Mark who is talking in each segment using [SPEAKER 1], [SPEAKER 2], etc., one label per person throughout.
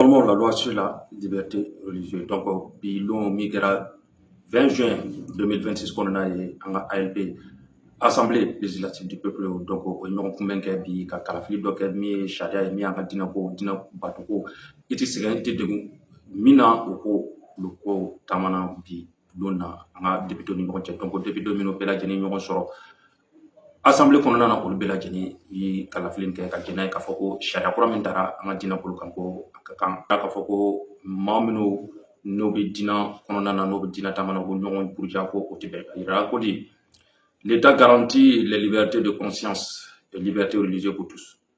[SPEAKER 1] Kɔnɔmaw la loi sur la liberté religieuse donc bi lon min kɛra 20 juin 2026 kɔnɔna ye an ka ALP assemblée législative du peuple donc o ye ɲɔgɔn kunbɛn kɛ bi ka kalafili dɔ kɛ min ye sariya ye min y'an ka diinɛko diinɛ batoko i tɛ sɛgɛn i tɛ degun min na o ko olu ko taamana bi lon na an ka député ni ɲɔgɔn cɛ donc député minnu bɛɛ lajɛlen ɲɔgɔn sɔrɔ assemblée kɔnɔna na olu bɛɛ lajɛlen ye kalafili kɛ ka jɛn n'a ye k'a fɔ ko sariya kura min taara an ka diinɛ bolo kan ko a ka kan k'a fɔ ko maa minnu n'o bɛ diinɛ kɔnɔna na n'o bɛ diinɛ taama na ko ɲɔgɔn buruja ko o tɛ bɛn a yira ko de l'état garantit les libertés de conscience et libertés religieuses pour tous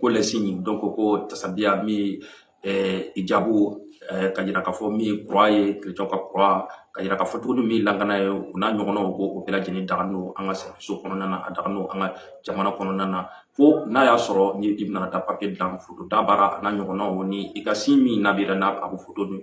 [SPEAKER 1] ko les signes donc ko tasabiya min ye eh, ijabu eh, ka yira k'a fɔ min ye croix ye kerecɛnw ka croix ka yira k'a fɔ tuguni min lakana ye u n'a ɲɔgɔnnaw ko o bɛɛ lajɛlen dagalen don an ka seriso kɔnɔna na a dagalen don an ka jamana kɔnɔna na fo n'a y'a sɔrɔ ni i bɛna taa papiye dilan foto ta baara a n'a ɲɔgɔnnaw ni i ka signe min n'a b'i la n'a a bɔ foto dun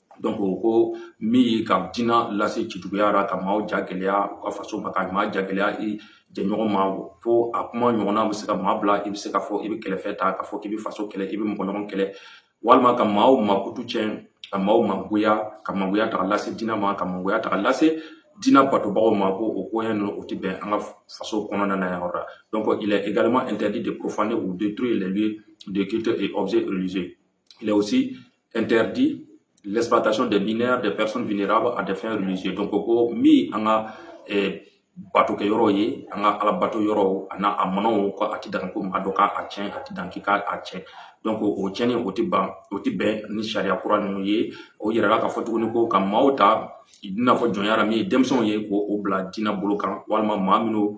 [SPEAKER 1] donc min ye ka diinɛ lase cɛjuguya la ka maaw ja gɛlɛya u ka faso ma ka maa ja gɛlɛya i jɛɲɔgɔn ma fo a kuma ɲɔgɔnna bɛ se ka maa bila i bɛ se ka fɔ i bɛ kɛlɛfɛn ta k'a fɔ k'i bɛ faso kɛlɛ i bɛ mɔgɔ ɲɔgɔn kɛlɛ walima ka maaw mankutu tiɲɛ ka maaw mangoya ka mangoya ta ka lase diinɛ ma ka mangoya ta ka lase diinɛ batobagaw ma ko o koɲɛ ninnu o tɛ bɛn an ka faso kɔnɔna na yan yɔrɔ la il est également interdit de profaner ou détruire les lieux de culte et objets religieux il est aussi interdit l'exploitation des mineurs des personnes vulnérables à des fins religieuses donc ko min an ka eh, batokɛ yɔrɔw ye an ka ala bato yɔrɔw an'a minanw ko a ti daga ko maa dɔ k'a a tiɲɛ a ti daga k'i k'a a tiɲɛ donc o tiɲɛni o ti ban o ti bɛn ni sariya kura ninnu ye o yirala k'a fɔ tuguni ko ka maaw ta i n'a fɔ jɔnya la min ye denmisɛnw ye k'o bila diinɛ bolo kan walima maa minnu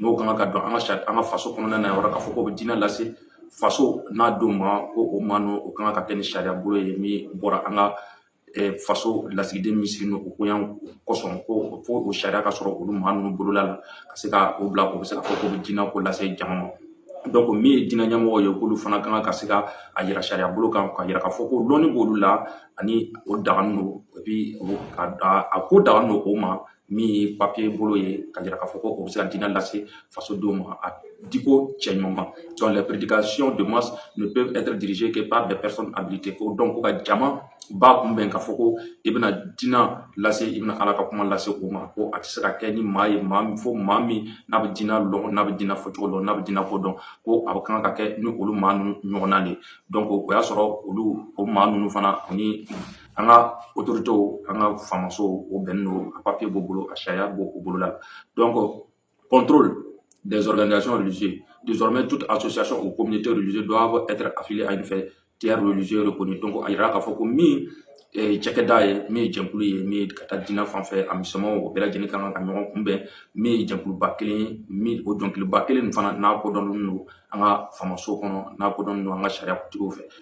[SPEAKER 1] n'o kan ka don an ka an ka faso kɔnɔna na yɔrɔ k'a fɔ k'o bɛ diinɛ lase faso n'a denw ma ko o maa ninnu o kan ka kɛ ni sariya bolo ye min bɔra an ka faso lasigiden min sigilen don o ko yan kosɔn ko fo o sariya ka sɔrɔ olu maa ninnu boloda la ka se ka o bila o bɛ se ka fɔ k'o bɛ diinɛ ko lase jama ma donc min ye diinɛ ɲɛmɔgɔ ye k'olu fana kan ka se ka a yira sariya bolo kan ka yira k'a fɔ ko lɔnni b'olu la ani o dagalen don et puis a ko dagalen don o ma min ye papiye bolo ye ka jira k'a fɔ ko o bɛ se ka diinɛ lase fasodenw ma a diko cɛ ɲuman ma donc les prédications de masse ne peuvent être dirigées que par des personnes habilitées ko donc ko ka jamaba kunbɛn k'a fɔ ko i bɛna diinɛ lase i bɛna ala ka kuma lase o ma ko a tɛ se ka kɛ ni maa ye maa min fo maa min n'a bɛ diinɛ lɔn n'a bɛ diinɛ fɔcogo dɔn n'a bɛ diinɛ ko dɔn ko a bɛ kan ka kɛ ni olu maa ninnu ɲɔgɔnna de ye donc o y'a sɔrɔ olu o maa ninnu fana ani an ka otoritew an ka faamasow o bɛnnen don a papiye b'u bolo a sariya b'o u bolo la donc contrôle des organisations religieuses désormais toute association ou communauté religieuse doivent être affiliées à une faîtière religieuse reconnue donc a yira k'a fɔ ko min Eh, cakɛda ye min ye jɛkulu ye min ye ka taa diinɛ fan fɛ a misɛnmaw o bɛɛ lajɛlen kan ka ɲɔgɔn kunbɛn min ye jɛkuluba kelen ye min o jɛkuluba kelen nin fana n'a kodɔnnen don an ka faamaso kɔnɔ n'a kodɔnnen don an ka sariyatigiw fɛ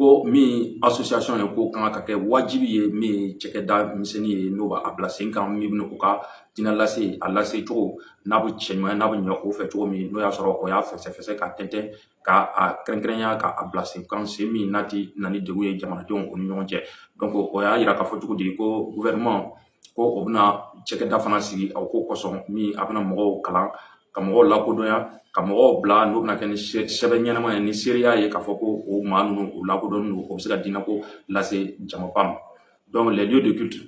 [SPEAKER 1] ko min association ye ko kan ka kɛ wajibi ye min ye cakɛda misɛnnin ye n'o b'a bila sen kan min bɛ u ka diinɛ lase a lase cogo n'a bɛ cɛɲa n'a bɛ ɲɛ o fɛ cogo min n'o y'a sɔrɔ o y'a fɛsɛfɛsɛ k'a tɛntɛn ka a kɛrɛnkɛrɛnya ka a bila sen kan sen min n'a ti na ni degun ye jamanadenw o ni ɲɔgɔn cɛ o y'a yira k'a fɔ cogo di ko ko o bɛna cakɛda fana sigi a ko kosɔn min a bɛna mɔgɔw kalan ka mɔgɔw lakodɔnya ka mɔgɔw bila n'o bɛna kɛ ni sɛbɛn ɲɛnama ye ni seereya ye k'a fɔ ko o maa ninnu u lakodɔnnen don o bɛ se ka diinɛko lase jamaba ma donc les lieux de culte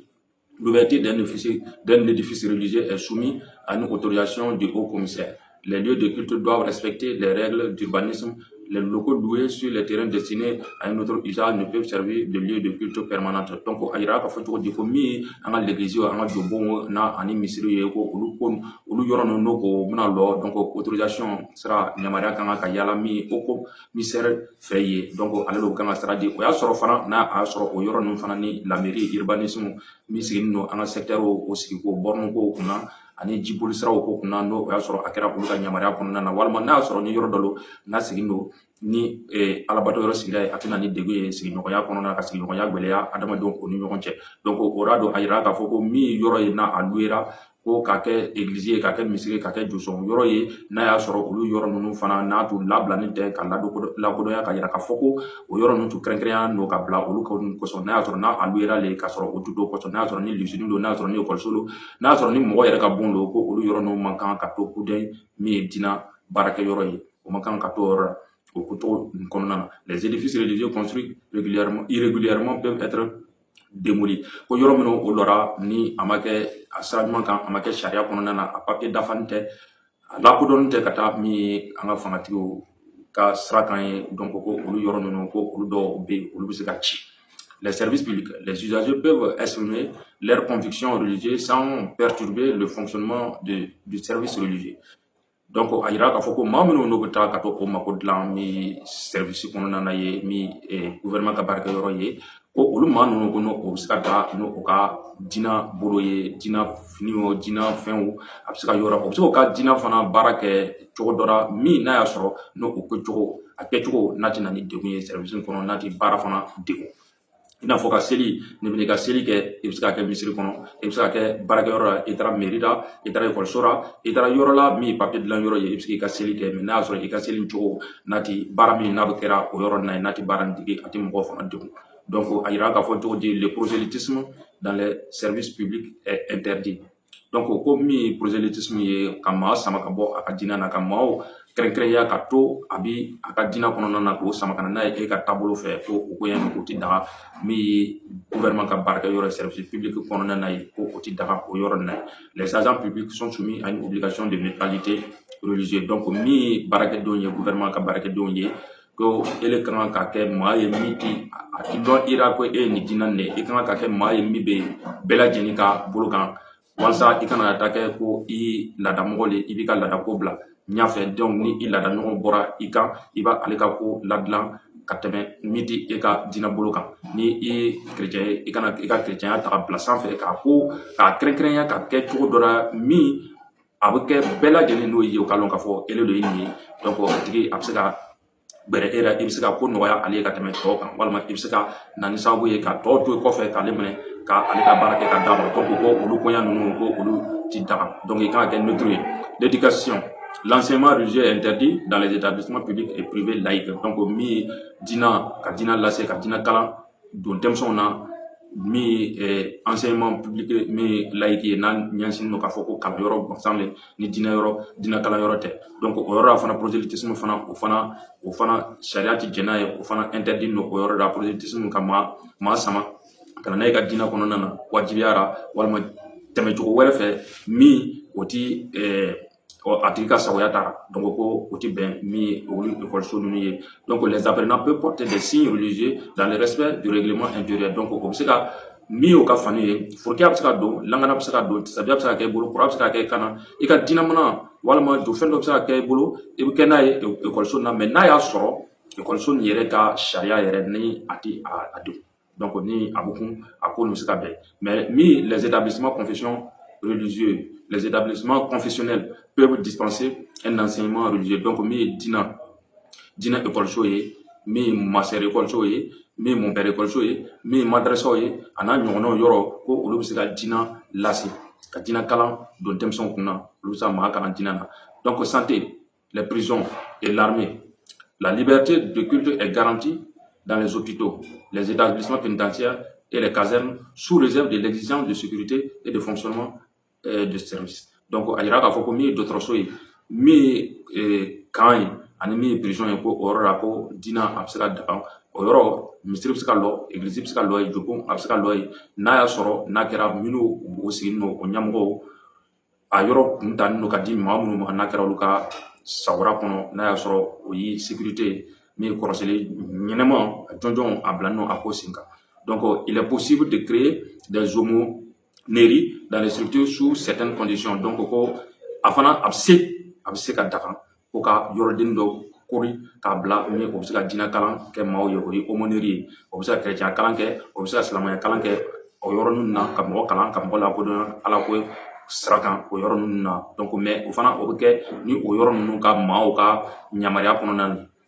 [SPEAKER 1] l'ouverture d'un office d'un édifice religieux est soumis à une autorisation du haut commissaire les lieux de culte doivent respecter les règles d'urbanisme. Les locaux loués sur les terrains destinés à un autre usage ne peuvent servir de lieu de culte permanent. Donc, a jira k'a fɔ cogo di ko min an ka l'église an ka jobonw na ani misiriw ye ko olu ko olu yɔrɔ ninnu n'o ko bɛna lɔ donc autorisation sira yamaruya kan ka ka yaala min haut-commissaire fɛ ye donc ale de kan ka sira di o y'a sɔrɔ fana n'a y'a sɔrɔ o yɔrɔ ninnu fana ni lameri urbanisme min sigilen don an ka secteur o sigi ko borne ko kunna ani jiboli siraw ko kunna n'o o y'a sɔrɔ a kɛra olu ka yamaruya kɔnɔna na walima n'a y'a sɔrɔ ni yɔrɔ dɔ don n'a sigilen don ni eh, alabato yɔrɔ sigida ye a tɛna ni degun ye sigiɲɔgɔnya kɔnɔna ka sigiɲɔgɔnya gɛlɛya adamadenw o ni ɲɔgɔn cɛ donc o y'a don a yira k'a fɔ ko min yɔrɔ ye n'a a luyera ko k'a kɛ egilizi ye k'a kɛ misiri ye k'a kɛ josɔn yɔrɔ ye n'a y'a sɔrɔ olu yɔrɔ ninnu fana n'a tun labilalen tɛ ka lakodɔnya ka yira k'a fɔ ko o yɔrɔ ninnu tun kɛrɛnkɛrɛnya don ka bila olu kosɔn n'a y'a sɔrɔ n'a a luyera le k'a sɔrɔ o tɛ don kosɔn n'a y'a sɔrɔ ni l'usine don n'a y'a sɔrɔ ni ekɔliso don n'a y'a sɔrɔ ni mɔgɔ yɛrɛ ka bon don ko olu yɔrɔ n'o man kan ka to kudayi min ye dina baarakɛ yɔrɔ ye o man kan ka to yɔrɔ la o ko tɔgɔ nin kɔnɔna na les édifices religieux construits régulièrement irrégulièrement peuvent être démolis ko yɔrɔ minnu o lɔra ni a ma kɛ a sira ɲuman kan a ma kɛ sariya kɔnɔna na a papier dafalen tɛ a lakodɔnnen tɛ ka taa min ye an ka fangatigiw ka sira kan ye ko olu yɔrɔ ninnu ko olu dɔw bɛ yen olu bɛ se ka ci Les services publics, les usagers peuvent exprimer leurs convictions religieuses sans perturber le fonctionnement de, du service religieux. Donc, a yira k'a fɔ ko maa minnu n'u bɛ taa ka to k'o mako dilan ni service kɔnɔna na ye min eh, gouvernement ka baarakɛyɔrɔ ye ko olu maa ninnu ko n'o o bɛ se ka taa n'o u ka diina bolo ye diina fini o diina fɛnw a bɛ se ka yɔrɔ o bɛ se k'o ka diina fana baara kɛ cogo dɔ la min n'a y'a sɔrɔ n'o o kɛcogo a kɛcogo n'a tɛ na ni degun ye kɔnɔ n'a tɛ baara fana degun i n'a fɔ ka seli ne bɛ ka seli kɛ i bɛ se ka kɛ misiri kɔnɔ i bɛ se ka kɛ baarakɛyɔrɔ la i taara meri la i taara ekɔliso la i taara yɔrɔ la min ye papiye dilan yɔrɔ ye i bɛ se k'i ka seli kɛ n'a y'a sɔrɔ i ka seli cogo n'a tɛ baara min n'a bɛ kɛra o yɔrɔ nin na yen n'a tɛ baara nin degun a tɛ mɔgɔw fana degun a yira k'a fɔ cogo di le prosélytisme dans les services publics est interdit ko min ye prosélytisme ye ka maa sama ka bɔ a ka diinɛ na ka maaw kɛrɛnkɛrɛnya ka to a bi a ka diinɛ kɔnɔna na k'o sama ka na n'a ye e ka taabolo fɛ ko o ko yan o tɛ daga min ye ka baarakɛ yɔrɔ ye service public kɔnɔna na yen ko o tɛ daga o yɔrɔ nin na yen les agents publics sont soumis à une obligation de neutralité religieuse donc min ye baarakɛdenw ye gouvernement ka baarakɛdenw ye ko ele ka kan ka kɛ maa ye min ti a ti lɔn i ra ko e ye nin diinɛ nin de ye i ka kan ka kɛ maa ye min bɛ bɛɛ lajɛlen ka bolo kan walasa i kana taa kɛ ko i laadamɔgɔ le i b'i ka laadako bila ɲafɛ donc ni i laada ɲɔgɔn bɔra i kan i b'a ale ka ko ladilan ka tɛmɛ min tɛ e ka diinɛ bolo kan ni i ye kerecɛn ye i kana i ka kerecɛnya ta ka bila sanfɛ k'a ko k'a kɛrɛnkɛrɛnya ka kɛ cogo dɔ la min a bɛ kɛ bɛɛ lajɛlen n'o ye o ka lɔn k'a fɔ ele de ye nin ye donc a tigi a bɛ se ka gbɛrɛ e la i bɛ se ka ko nɔgɔya ale ye ka tɛmɛ tɔw kan walima i bɛ se ka na ni sababu ye ka tɔw to kɔfɛ k'ale minɛ ka ale ka baara kɛ ka d'a ma ko ko olu koɲa ninnu ko olu ti daga donc i kan ka kɛ neutre ye l'éducation l'enseignement religieux est interdit dans les établissements publics et privés laïcs donc min ye diina ka diina lase ka diina kalan don denmisɛnw na min ye enseignement public min ye laïc ye n'a ɲɛsinnen don k'a fɔ ko kalanyɔrɔ gansan le ni diinɛ yɔrɔ diinɛ kalanyɔrɔ tɛ donc o yɔrɔ la fana prosélytisme fana o fana o fana sariya tɛ jɛn n'a ye o fana interdit don o yɔrɔ la prosélytisme ka maa maa sama ka na n'a ye ka diinɛ kɔnɔna na wajibiya ra walima tɛmɛcogo wɛrɛ fɛ min o ti ɔ a tigi ka sagoya ta donc ko o tɛ bɛn min ye olu ekɔliso ninnu ye donc les apprenants peuvent porter des signes religieux dans le respect du règlement intérieur donc o bɛ se ka min y'o ka fani ye forokiya bɛ se ka don lankana bɛ se ka don tasabiya bɛ se ka kɛ i bolo croix bɛ se ka kɛ i kan na i ka diina mana walima jɔ fɛn dɔ bɛ se ka kɛ i bolo i bɛ kɛ n'a ye ekɔliso in na mais n'a y'a sɔrɔ ekɔliso nin yɛrɛ ka sariya yɛrɛ ni a tɛ a don donc ni a b'a kun a ko bɛ se ka bɛn mais min les établissements confession religieux les établissements confessionnels peuvent dispenser un enseignement religieux donc min ye diinɛ diinɛ ekɔliso ye min ye masɛri ekɔliso ye min ye mɔnpɛri ekɔliso ye min ye madrasaw ye a n'a ɲɔgɔnnaw yɔrɔ ko olu bɛ se ka diinɛ lase ka diinɛ kalan don denmisɛnw kun na olu bɛ se ka maa kalan diinɛ na donc santé les prisons et l'armée. La liberté de culte est garantie dans les hôpitaux, les établissements pénitentiaires et les casernes sous réserve de l'exigence de sécurité et de fonctionnement euh, de service. Donc, a jira k'a fɔ ko min ye dɔgɔtɔrɔso ye min ye euh, camp ye ani min ye prison ye ko o yɔrɔ la ko diinɛ a bɛ se ka daga o yɔrɔ misiri bɛ se ka lɔ egilizi bɛ se ka lɔ yen jobon a bɛ se ka lɔ yen n'a y'a sɔrɔ n'a kɛra minnu u sigilen don o ɲɛmɔgɔw a yɔrɔ kun dannen don ka di maa minnu ma n'a kɛra olu ka sagoya kɔnɔ n'a y'a sɔrɔ o ye sécurité min ye kɔrɔsili ɲɛnama jɔnjɔn a bila nɔ a ko sen kan donc il est possible de créer des aumôneries dans les structures sous certaines conditions donc ko a fana a bɛ se a bɛ se ka daga ko ka yɔrɔden dɔ kori k'a bila u ye o bɛ se ka diinɛ kalan kɛ maaw ye o ye aumônerie ye o bɛ se ka kerecɛnya kalan kɛ o bɛ se ka silamɛya kalan kɛ o yɔrɔ ninnu na ka mɔgɔ kalan ka mɔgɔ lakodɔn ala ko sira kan o yɔrɔ ninnu na donc o fana o bɛ kɛ ni o yɔrɔ ninnu ka maaw ka yamaruya kɔnɔna na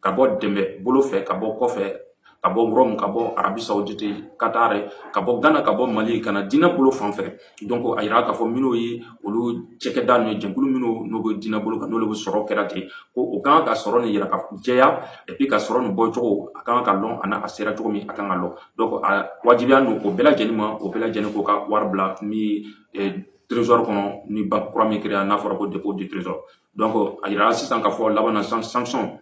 [SPEAKER 1] ka bɔ dɛmɛ bolo fɛ ka bɔ kɔfɛ ka bɔ rɔmu ka bɔ arabi sawudite katari ka bɔ gana ka bɔ mali ka na diinɛ bolo fan fɛ donc a yira k'a fɔ minnu ye olu cakɛda ninnu ye jɛkulu minnu n'u bɛ diinɛ bolo kan n'olu bɛ sɔrɔ kɛra ten ko o kan ka sɔrɔ nin yira ka jɛya epi ka sɔrɔ nin bɔcogo a kan ka lɔn ani a sera cogo min a kan ka lɔn donc a wajibiya don o bɛɛ lajɛlen ma o bɛɛ lajɛlen ko ka wari bila ni eh, trésor kɔnɔ ni banque kura min créera n'a fɔra ko dépôt du trésor donc a yirala sisan k'a fɔ laban na sisan sanction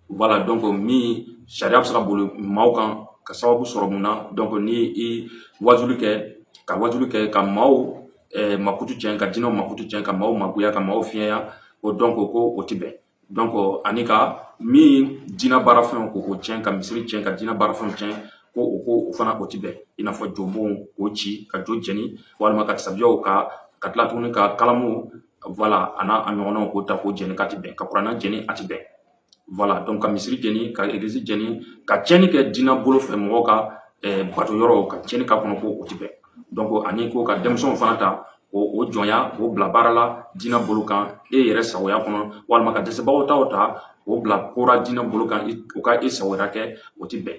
[SPEAKER 1] voilà donc min sariya bɛ se ka boli maaw kan ka sababu sɔrɔ mun na donc ni i wajuli kɛ ka wajuli kɛ ka maaw eh, mankutu tiɲɛ ka diinɛw mankutu tiɲɛ ka maaw mangoya ka maaw fiɲɛya ko donc ko o tɛ bɛn donc ani ka min diinɛ baara fɛnw ko o tiɲɛ ka misiri tiɲɛ ka diinɛ baara fɛnw tiɲɛ ko o ko o fana o tɛ bɛn i n'a fɔ jobonw k'o ci ka jo jɛni walima ka tasabiyaw ka ka tila tuguni ka kalamu voilà a n'a a ɲɔgɔnnaw k'o ta k'o jeni k'a ti bɛn ka kurana jeni a ti bɛn voilà donc ka misiri jeni ka egilizi jeni ka tiɲɛni kɛ diina bolo fɛ mɔgɔw ka eh, bato yɔrɔw ka tiɲɛni kɛ a kɔnɔ ko o ti bɛn donc ani ko ka denmisɛnw fana ta o o jɔnya k'o bila baara la diina bolo kan e yɛrɛ sagoya kɔnɔ walima ka dɛsɛbagaw taw ta k'o bila ko ra diina bolo kan i- u ka i sagoya kɛ o ti bɛn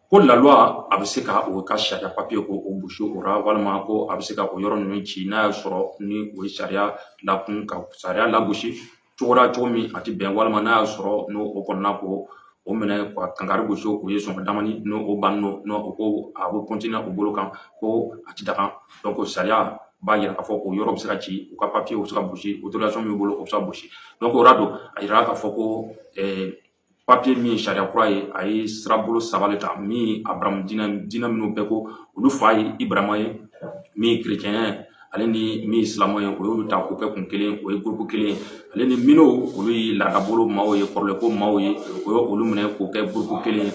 [SPEAKER 1] ko la loi a bɛ se ka o ka sariya papiye k'o bɔsi o la walima ko a bɛ se ka o yɔrɔ ninnu ci n'a y'a sɔrɔ ni o ye sariya lakun ka sariya lagosi cogo la cogo min a tɛ bɛn walima n'a y'a sɔrɔ n'o o kɔnɔna ko o minɛ ka kankari gosi o ye siɲɛ damani n'o o ban n'o n'o o ko a bɛ o bolo kan ko a tɛ daga ko sariya b'a yira k'a fɔ o yɔrɔ bɛ se ka ci u ka papiye u bɛ se ka bɔsi o bɛ bolo o bɛ se ka bɔsi o y'a don a yira k'a fɔ ko papiye min ye sariya kura ye a ye sirabolo saba de ta min abrahamu diinɛ diinɛ minnu bɛɛ ko olu fa ye ibrahima ye min ye kerecɛnya ye ale ni min ye silamɛya ye o y'olu ta k'o kɛ kun kelen o ye gurupu kelen ye ale ni minnu olu ye laadabolo maaw ye kɔrɔlenko maaw ye o ye olu minɛ k'o kɛ gurupu kelen ye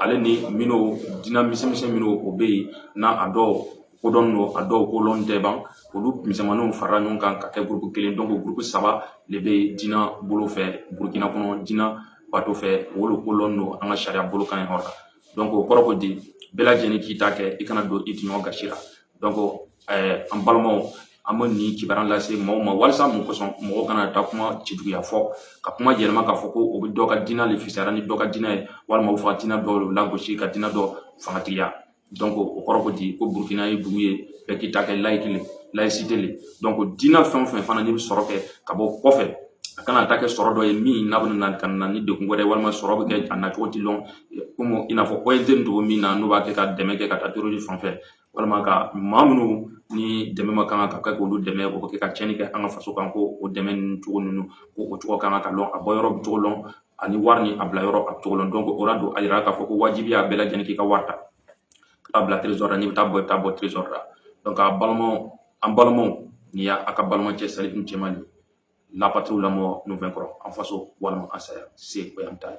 [SPEAKER 1] ale ni minnu diinɛ misɛnmisɛn minnu o bɛ yen n'a a dɔw kolɔn don a dɔw kolɔn tɛ ban olu misɛnmaninw farala ɲɔgɔn kan ka kɛ gurupu kelen dɔnku gurupu saba de bɛ diina bolo fɛ burukina kɔnɔ diina bato fɛ olu kolɔn don an ka sariya bolo kan yɔrɔ la dɔnku o kɔrɔ ko di bɛɛ lajɛlen k'i ta kɛ i kana don i tɔɲɔgɔn gasi la dɔnku ɛɛ an balimaw an bɛ nin kibaruya lase mɔgɔw ma walisa mun kosɔn mɔgɔw kana taa kuma cɛjuguya fɔ ka kuma yɛlɛma k'a fɔ ko u bɛ dɔ ka diinɛ de fisayara ni dɔ ka diinɛ ye walima u bɛ diinɛ dɔw lagosi ka diinɛ dɔ fangatigiya donc o kɔrɔ ko di ko burukina ye dugu ye bɛɛ k'i ta kɛ laïque le laïcité le donc diinɛ fɛn o fɛn fana n'i bɛ sɔrɔ kɛ ka bɔ kɔfɛ a kana taa kɛ sɔrɔ dɔ ye min n'a bɛna na ka na ni degun wɛrɛ ye walima sɔrɔ bɛ kɛ a nacogo tɛ lɔn komi i n'a fɔ ONG nin dɔw minnu n'u b'a kɛ ka dɛmɛ kɛ ka taa terrori fan fɛ walima ka maa minnu ni dɛmɛ ma kan ka kɛ k'olu dɛmɛ o bɛ kɛ ka tiɲɛni kɛ an ka faso kan ko o dɛmɛ ninnu cogo ninnu ko o cogo kan ka lɔn a bɔ yɔrɔ bɛ cogo lɔn ani wari ni a bila yɔrɔ a cogo la donc o la don a yirala k'a fɔ ko wajibiya bɛɛ lajɛlen k'i ka wari ta ka taa bila trésor la n'i bɛ taa bɔ i bɛ taa bɔ trésor la donc a balimaw an balimaw nin y'aw ka balimacɛ salifin cɛman de ye la patrie ou la mort nous vaincrons an faso walima an saya se o y'an ta ye